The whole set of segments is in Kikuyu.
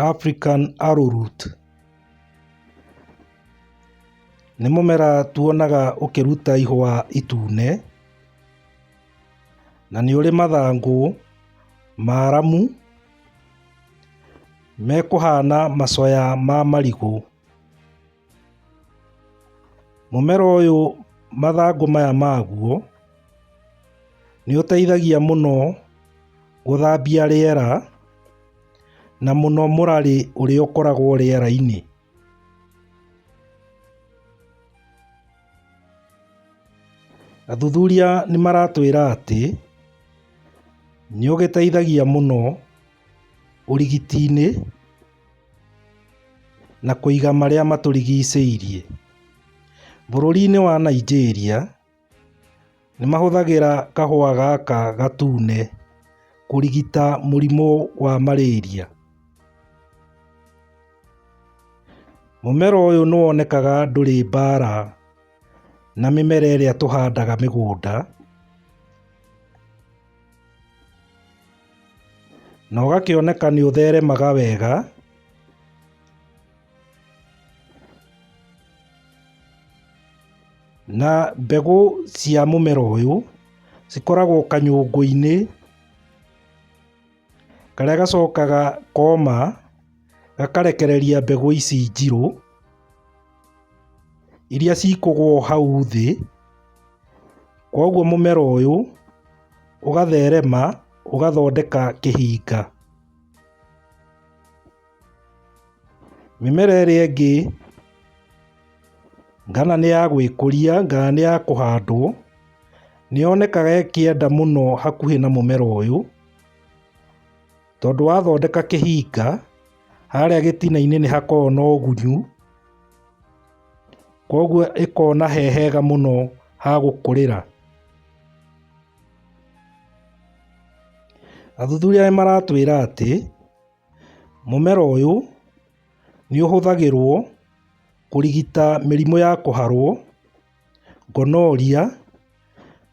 African Arrowroot nĩ mũmera tuonaga ũkĩruta ihũa itune, na nĩ ũrĩ mathangũ maramu mekũhana macoya ma marigũ. Mũmera ũyũ mathangũ maya maguo nĩ ũteithagia mũno gũthambia rĩera na mũno mũrarĩ ũrĩa ũkoragwo rĩera-inĩ. Athuthuria nĩ maratwĩra atĩ nĩ ũgĩteithagia mũno ũrigiti-inĩ. na kũiga marĩa matũrigicĩirie. Bũrũri-inĩ wa Nigeria, nĩ mahũthagĩra kahũa gaka gatune kũrigita mũrimũ wa marĩria. Mũmera ũyũ nĩ wonekaga ndũrĩ mbara na mĩmera ĩrĩa tũhandaga mĩgũnda. Na ũgakĩoneka nĩ ũtheremaga wega. Na mbegũ cia mũmera ũyũ cikoragwo kanyũngũ-inĩ karĩa gacokaga koma gakarekereria mbegũ ici njirũ. iria cikũgwo hau thĩ, kwoguo mũmera ũyũ ũgatherema ũgathondeka kĩhinga. Mĩmera ĩrĩa ĩngĩ kana nĩ ya gwĩkũria kana nĩ ya kũhandwo, nĩ yonekaga ĩkĩenda mũno hakuhĩ na mũmera ũyũ. Tondũ wathondeka kĩhinga, harĩa gĩtina-inĩ nĩ hakoragwo na ũgunyu, koguo ĩkona he hega mũno ha gũkũrĩra. Athuthuria nĩ maratwĩra atĩ, mũmera ũyũ nĩ ũhũthagĩrwo kũrigita mĩrimũ ya kũharwo, gonorrhea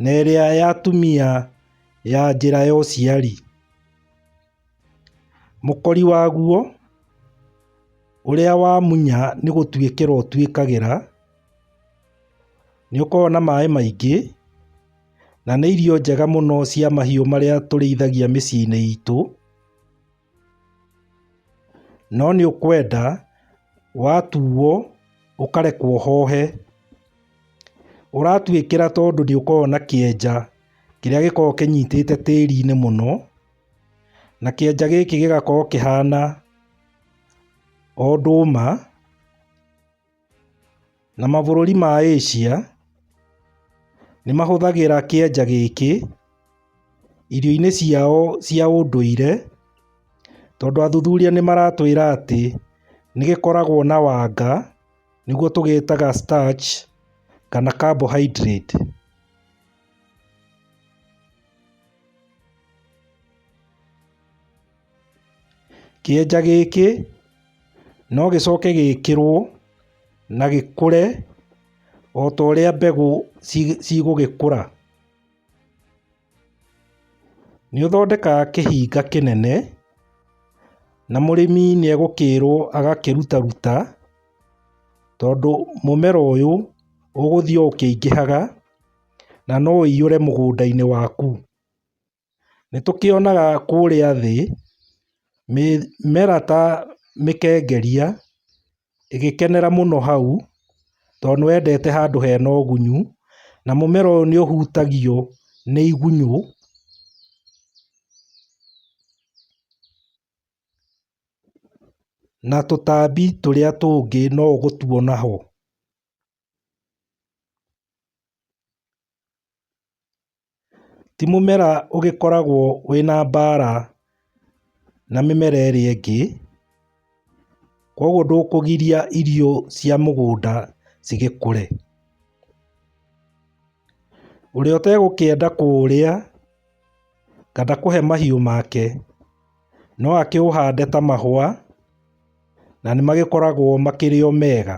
na ĩrĩa ya atumia ya njĩra ya ũciari. Mũkori waguo ũrĩa wamunya nĩ gũtuĩkĩra ũtuĩkagĩra, nĩ ũkoragwo na maĩ maingĩ na nĩ irio njega mũno cia mahiũ marĩa tũrĩithagia mĩciĩ-inĩ itũ, no nĩ ũkwenda watuo ũkarekwo ũhohe, ũratuĩkĩra tondũ nĩ ũkoragwo na kĩenja. Kĩrĩa gĩkoragwo kĩnyitĩte tĩri-inĩ mũno, na kĩanja gĩkĩ gĩgakorwo kĩhana o ndũma, na mabũrũri ma Asia nĩ mahũthagĩra kĩanja gĩkĩ irio-inĩ ciao cia ũndũire, tondũ athuthuria nĩ maratwĩra atĩ nĩ gĩkoragwo na wanga nĩguo tũgĩtaga starch kana carbohydrate. Kĩenja gĩkĩ no gĩcoke gĩkĩrwo na gĩkũre o ta ũrĩa mbegũ cigũgĩkũra. Nĩ ũthondekaga kĩhinga kĩnene na mũrĩmi nĩ egũkĩrwo agakĩruta ruta tondũ mũmera ũyũ ũgũthiĩ ũkĩingĩhaga. na no ũiyũre mũgũnda-inĩ waku. Nĩ tũkĩonaga kũrĩa thĩ mĩmera ta mĩkengeria ĩgĩkenera mũno hau tondũ nĩ wendete handũ hena ũgunyu na mũmera ũyũ nĩ ũhutagio nĩ igunyũ. Na tũtambi tũrĩa tũngĩ no ũgũtuona ho. Ti mũmera ũgĩkoragwo wĩna mbara na mĩmera ĩrĩa ĩngĩ, kwoguo ndũkũgiria irio cia mũgũnda cigĩkũre. Ũrĩa ũtegũkĩenda kũũrĩa kana kũhe mahiũ make, no akĩũhande ta mahũa na nĩ magĩkoragwo makĩrĩ o mega.